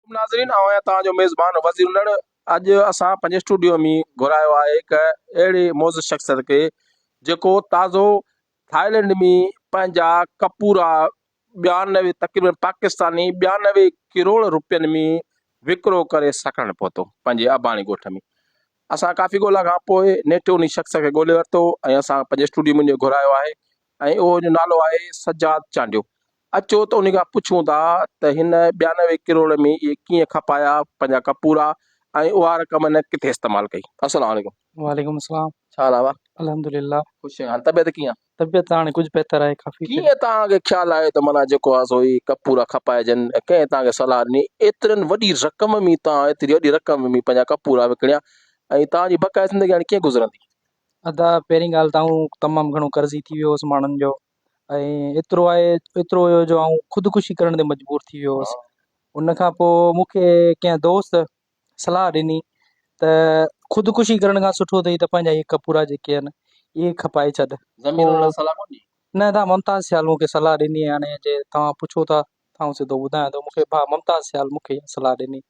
عليڪم ناظرين آئون آهيان توهان جو ميزبان وزير الھڙ اڄ اسان پنهنجي اسٽوڊيو ۾ گهرايو آهي هڪ اهڙي معزز شخصيت کي جيڪو تازو ٿائلنڊ ۾ پنهنجا ڪپورا ٻيانوي تقريبن پاڪستاني ٻيانوي ڪروڙ روپين ۾ وڪرو ڪري سڪرنڊ پهتو پنهنجي اباڻي ڳوٺ ۾ اسان ڪافي ڳولا کان پوء نيٺ ان شخص کي ڳولي ورتو ۽ اسان پنهنجي اسٽوڊيو ۾ گهرايو آهي ۽ اهو جو نالو آهي سجاد چانڊيو اچو ته انهي کان پڇون ٿا ته هن ٻيانوي ڪروڙ ۾ اهي ڪيئن کپايا پنهنجا ڪپورا ۽ اها رقم هن ڪٿي استعمال ڪئي. السلام عليڪم. وعليڪم السلام. ڇا حال آ ابا. الحمد لله. خوش آهيان حال طبيعت ڪيئن آ. طبيعت ته هاڻي ڪجهه بهتر آهي ڪافي. ڪيئن توهان کي خيال آيو ته معنيٰ جيڪو آ سو هي ڪپورا کپائجن ۽ ڪنهن توهان کي صلاح ڏني ايترن وڏي رقم ۾ توهان ايتري وڏي رقم ۾ پنهنجا ڪپورا وڪڻيا ۽ توهان جي بقايا زندگي هاڻي ڪيئن گذرندي. ادا پهرين ڳالهه ته آئون تمام گهڻو قرضي ٿي ويو هوس ماڻهن جو ۽ ايترو آهي ايترو هيو جو آئون خودڪشي ڪرڻ تي مجبور ٿي ويو هوس ان کان پوء مون کي ڪنهن دوست صلاح ڏني ته خودڪشي ڪرڻ کان سٺو اٿئي ته پنهنجا هي ڪپورا جيڪي آهن اهي کپائي ڇڏ زمين ان لاء صلاح ڪونهي نه تان ممتاز سيال مون کي صلاح ڏني هاڻي جي توهان پڇو ٿا آئون سڌو ٻڌايان ٿو، مون کي ڀاء ممتاز سيال مون کي اها صلاح ڏني.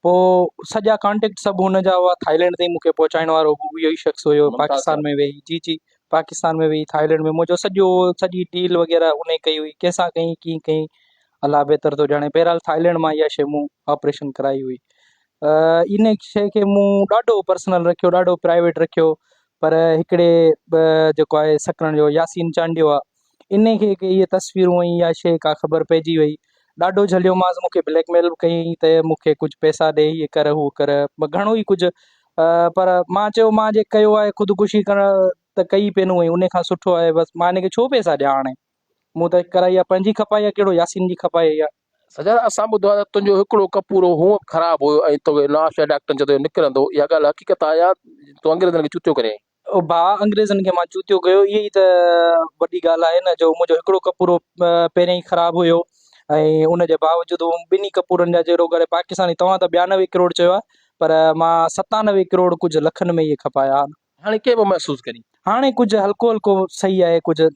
پوء سڄا ڪانٽيڪٽ سڀ هن جا هئا، ٿائلينڊ تائين مون کي پهچائڻ وارو به اهو ئي شخص هيو، پاڪستان ۾ ويهي، جي جي، پاڪستان ۾ ويهي ٿائلينڊ ۾ منهنجو سڄو سڄي ڊيل وغيره ان ئي ڪئي هئي، ڪنهن سان ڪئي، ڪيئن ڪئي، الله بهتر ٿو ڄاڻي، بهرحال ٿائلينڊ مان اها شيء مون آپريشن ڪرائي هئي. ان شيء کي مون ڏاڍو پرسنل رکيو، ڏاڍو پرائيويٽ رکيو، پر هڪڙي جيڪو آهي سڪرنڊ جو ياسين چانڊيو آهي، انهي کي ڪي اهي تصويرون ۽ اها شيء ڪا خبر پئجي وئي. ڏاڍو جهليومانس، مون کي بليڪ ميل به ڪيائين ته مون کي ڪجهه پئسا ڏي، هيء ڪر، هوء ڪر، گهڻو ئي ڪجهه. پر مان چيو، مان جي ڪيو آهي، خودڪشي ڪرڻ ته ڪئي ئي پينهون ۽ انهي کان سٺو آهي بس. مان هن کي ڇو پئسا ڏيان هاڻي؟ مون ته ڪرائي آهي پنهنجي کپائي يا ڪهڙو ياسين جي کپائي آهي. سجاد، اسان ٻڌو آهي ته تنهنجو هڪڙو ڪپورو هونء به خراب هيو ۽ توکي نوابشاهي ڊاڪٽرن چيو ته اهو نڪرندو. اها ڳالهه حقيقت آهي يا تون انگريزن کي چوتيو ڪرين آهين؟ او ڀاء، انگريزن کي مان جوتيو ڪيو، اهي ئي ته وڏي ڳالهه آهي نه، جو منهنجو هڪڙو ڪپورو پهريان ئي خراب هيو ۽ ان جي باوجود مون ٻنهي ڪپورن جا جهيڙو ڪري پاڪستاني توهان ته ٻيانوي ڪروڙ چيو آهي، پر مان ستانوي ڪروڙ ڪجهه لکن ۾ ئي کپايا آهن. هاڻي ڪيئن پيو محسوس ڪرين؟ هاڻي ڪجهه هلڪو هلڪو سهي آهي، ڪجهه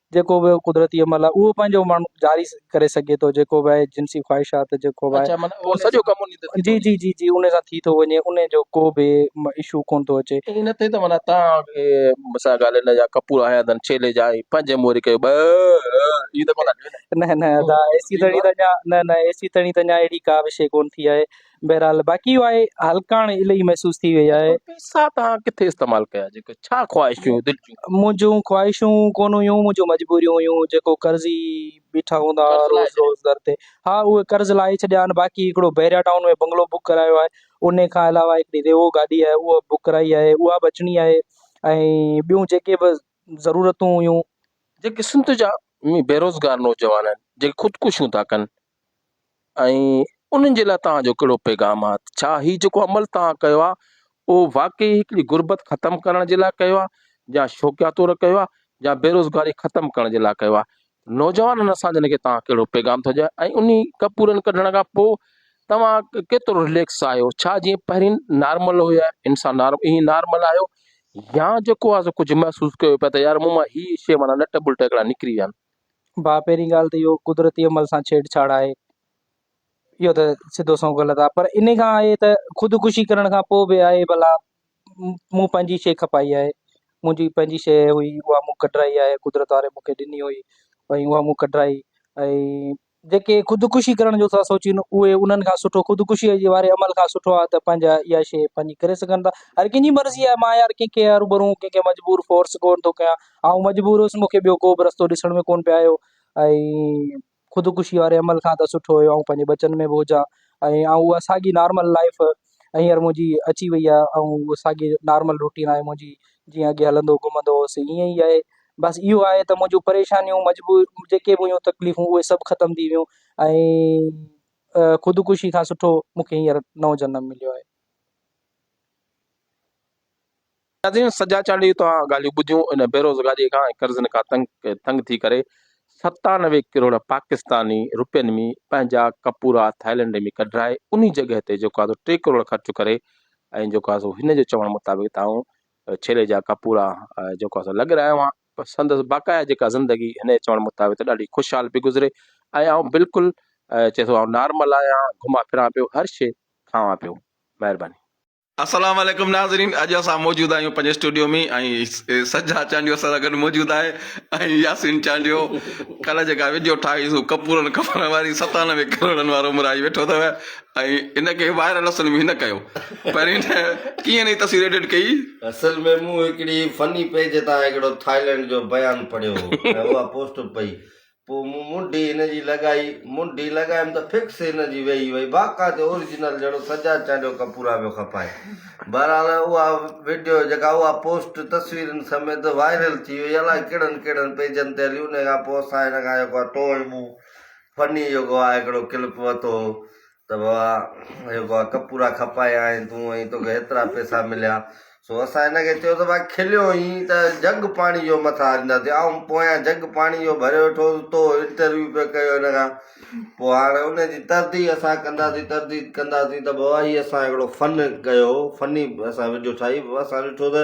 جيڪو به قدرتي عمل آهي اهو پنهنجو ماڻهو جاري ڪري سگهي ٿو جيڪو به آهي جنسي خواهشات جيڪو به آهي سڄو ڪم جي جي جي جي ان سان ٿي ٿو وڃي ان جو ڪو به اشو ڪونه ٿو اچي ائين نه ٿئي ته معنيٰ تان مون سان ڳالهه نه جا ڪپور آهيا اٿن ڇيلي جا آهي پنهنجي موري ڪيو ٻه هي ته ڪونه نه نه ايسي تڻي ته اڃا نه نه ايسي تڻي ته اڃا اهڙي ڪا به شيء ڪونه ٿي آهي بهرحال باقي اهو آهي هلڪاڻ الهي محسوس ٿي وئي آهي. پيسا توهان ڪٿي استعمال ڪيا جيڪي ڇا خواهش هيون دل جون. منهنجون خواهشون ڪونه هيون منهنجون مجبوريون هيون جيڪو قرضي بيٺا هوندا ها روز روز در تي ها اهي قرض لاهي ڇڏيا آهن باقي هڪڙو بحريا ٽائون ۾ بنگلو بڪ ڪرايو آهي انهي کان علاوه هڪڙي ريوو گاڏي آهي اها بڪ ڪرائي آهي اها به اچڻي آهي ۽ ٻيون جيڪي به ضرورتون هيون. جيڪي سنڌ جا بيروزگار نوجوان آهن جيڪي خودڪشيون ٿا ڪن ۽ انهن جي لاء توهان جو ڪهڙو پيغام آهي؟ ڇا هي جيڪو عمل توهان ڪيو آهي اهو واقعي هڪڙي غربت ختم ڪرڻ جي لاء ڪيو آهي يا شوقيا طور ڪيو آهي يا بيروزگاري ختم ڪرڻ جي لاء ڪيو آهي؟ نوجوانن اسان جن کي توهان ڪهڙو پيغام ٿو ڏيو ۽ انهي ڪپورن ڪڍڻ کان پوء توهان ڪيترو رليڪس آهيو ڇا جيئن پهرين نارمل هيا انسان نارمل ائين نارمل آهيو يا جيڪو آهي سو ڪجهه محسوس ڪيو پيا ته يار مون مان هي شي معنيٰ نٽ بلٽ هڪڙا نڪري ويا آهن. ڀاء پهرين ڳالهه ته اهو قدرتي عمل سان ڇيڙ ڇاڙ آهي اهو ته سڌو سنئون غلط آهي پر ان کان آهي ته خودڪشي ڪرڻ کان پوء به آهي ڀلا مون پنهنجي شيء کپائي آهي منهنجي پنهنجي شيء هئي اها مون ڪڍرائي آهي قدرت واري مون کي ڏني هئي ۽ اها مون ڪڍرائي ۽ جيڪي خودڪشي ڪرڻ جو ٿا سوچين اهي انهن کان سٺو خودڪشي جي واري عمل کان سٺو آهي ته پنهنجا اها شيء پنهنجي ڪري سگهن ٿا هر ڪنهن جي مرضي آهي مان يار ڪنهن کي روبرو ڪنهن کي مجبور فورس ڪونه ٿو ڪيان آئون مجبور هيس مون کي ٻيو ڪو به رستو ڏسڻ ۾ ڪونه پيو آيو ۽ خودڪشي واري عمل کان ته سٺو هيو آئون پنهنجي ٻچن ۾ به هجان ۽ آئون اها ساڳي نارمل لائيف هينئر منهنجي اچي وئي آهي ۽ اهو ساڳي نارمل روٽين آهي منهنجي جيئن اڳي هلندو گهمندو هوس ائين ئي آهي بس اهو آهي ته منهنجون پريشانيون مجبور جيڪي به هيون تڪليفون اهي سڀ ختم ٿي ويون ۽ خودڪشي کان سٺو مونکي هينئر نئون جنم مليو آهي قاضين سجا چانڊيو توهان ڳالهيون ٻڌيون ان بيروزگاري کان ۽ قرضن کان تنگ تنگ ٿي ڪري ستانوي ڪروڙ پاڪستاني روپين ۾ پنهنجا ڪپورا ٿائلنڊ ۾ ڪڍرائي انهي جڳهه تي جيڪو آسو ٽي ڪروڙ خرچ ڪري ۽ جيڪو آسو هن جو چوڻ مطابق ته آئون ڇيلي جا ڪپورا جيڪو آسو لڳ رهايو آهيان سندس باقايا جيڪا زندگي هن جي چوڻ مطابق ته ڏاڍي خوشحال پي گذري ۽ آئون بلڪل چي ٿو آئون نارمل آهيان گهمان ڦران پيو هر شي کاوان پيو مهرباني. السلام عليڪم ناظرين اڄ اسان موجود آهيون پنهنجي اسٽوڊيو ۾ ۽ سجا چانڊيو اسان سان گڏ موجود آهي ۽ ياسين چانڊيو ڪلهه جيڪا وڊيو ٺاهي سو ڪپورن ڪپڙن واري ستانوي ڪروڙن وارو مرائي ويٺو اٿو ۽ ان کي وائرل اصل ۾ هن ڪيو پر هن ڪيئن نئي تصوير ايڊٽ ڪئي اصل ۾ مون هڪڙي فني پيج تان هڪڙو ٿائلنڊ جو بيان پڙهيو هو ۽ اها پوسٽ پئي پوء مون منڍي هن جي لڳائي، منڍي لڳايم ته فڪس هن جي ويهي وئي، باقاعدي اوريجنل جهڙو سجاد چانڊيو ڪپورا پيو کپائي. بهرحال اها وڊيو جيڪا اها پوسٽ تصويرن سميت وائرل ٿي وئي، الاء ڪهڙن ڪهڙن پيجن تي هلي، انهي کان پوء اسان هن کان جيڪو آهي تو ۽ مون فني جيڪو آهي هڪڙو ڪلپ ورتو هو، ته ڀاء جيڪو آ ڪپورا کپايا ۽ تون ۽ توکي هيترا پئسا مليا. سو اسان هن کي چيو ته ڀاء کليو هين ته جڳ پاڻي جو مٿا آرينداسين. آئون پويان جڳ پاڻي جو ڀري ويٺو هوس تو انٽرويو پيو ڪيو هن کان. پوء هاڻ ان جي ترديد اسان ڪنداسين ترديد ڪنداسين ته ڀاء هي اسان هڪڙو فن ڪيو فني اسان وڊيو ٺاهي اسان ڏٺو ته